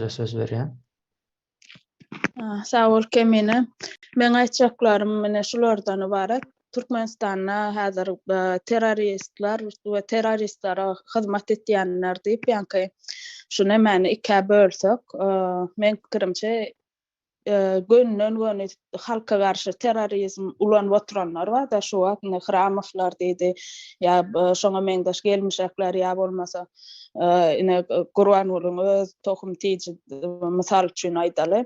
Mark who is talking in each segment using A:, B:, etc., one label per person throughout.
A: Size söz berýän. Sag bol Kemine. Meň aýtjaklarym ine şulardan ybarat. Türkmenistanda häzir terroristler we terroristlere hyzmat etýänler diýip ýaňky şu nemäni ikä bölsek, meň pikirimçe gönden-göni halka garşy terrorizm ulanyp oturanlar bar-da, şu wagt indi Hramowlar diýdi, ýa şoňa meňzeş gelmişekler, ýa bolmasa ine Gurbangulyň öz tohum tiji mysal üçin aýdaly,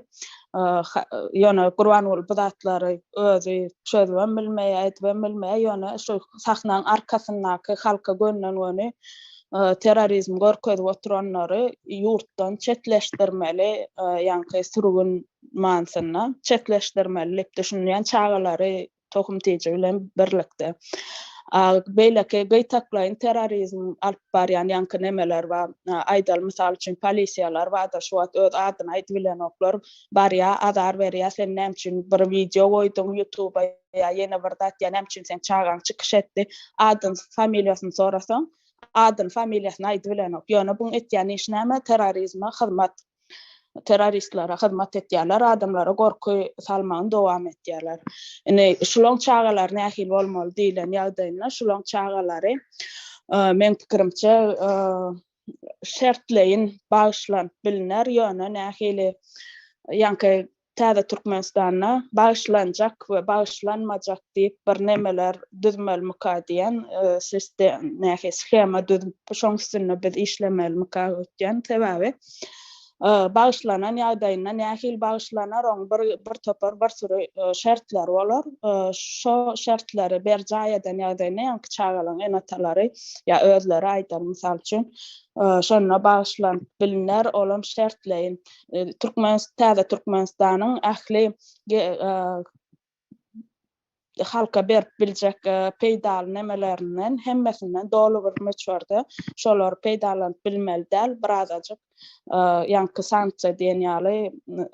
A: ýöne Gurbanguly bu zatlary özi çözübem bilmeýär, edibem bilmeýär, ýöne şu sahnaň arkasyndaky halka gönden-göni terrorizm görkezip oturanlary ýurtdan çetleşdirmeli, ýaňky sürgün manysynda çetleşdirmeli diýip düşünýän çagalary tohum tiji bilen birlikde. Beýleki gytaklaýyn terrorizm alyp barýan ýaňky nemeler bar. Aýdaly, mysal üçin, polisiýalar bardyr, şu wagt öz adyny aýdybilenoklar, barýar, azar berýär, sen näme üçin bir wideo goýduň ýutuba, ýa ýene bir zat ýa näme üçin seň çagaň çykyş etdi adyn familiýasyny sorasaň adyn familiýasyny aýdy bilenok ýöne buň etýän işi näme terrorizme hyzmat terroristlere hyzmat etýärler adamlara gorky salmagyny dowam etýärler indi şulaň çagalary nähili bolmaly diýlen ýagdaýynda şulaň çagalary meň pikirimçe şertleýin bagyşlanyp bilner ýöne nähili ýaňky Täze Türkmenistanda bagyşlanjak we bagyşlanmajak diýip bir nemeler düzmelmika diýen sistem nähili shema düzüp şoň üstünde biz işlemelmika öýtýän sebäbi bagyşlanan ýagdaýynda nähili bagyşlanar oň bir bir topar bir süri şertleri bolar şo şertleri berjaý eden ýagdaýynda ýaňky çagalaň ene-atalary ýa özleri aýdan mysal üçin şonda bagyşlanyp bilner olam şertleýin Türkmen täze Türkmenistanyň ähli halka berip biljek peýdaly nemelerinden hemmesinden doly bir möçberde şolary peýdalanyp bilmeli däl, birazajyk ýaňky sanksiýa diýen ýaly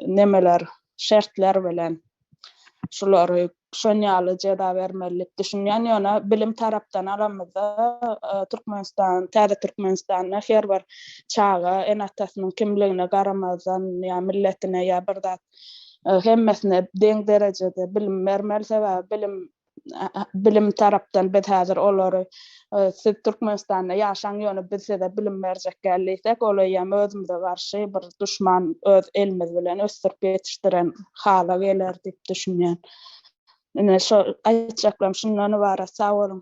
A: nemeler, şertler bilen. şulary şon ýaly jeza bermeli diýip düşünýän, ýöne bilim tarapdan alamyzda Türkmenistan, täze Türkmenistanda her bir çaga ene-atasynyň kimligine garamazdan ýa milletine ýa bir zat hemmesine deň derejede bilim bermeli, sebäbi bilim bilim tarapdan biz häzir olary siz Türkmenistanda ýaşaň ýöne biz size bilim berjek däl diýsek ol eýýäm özümize garşy bir duşman öz elimiz bilen ösdürip ýetişdiren hala geler diýip düşünýän. Ine şo aýtjaklarym şundan ybarat sag boluň.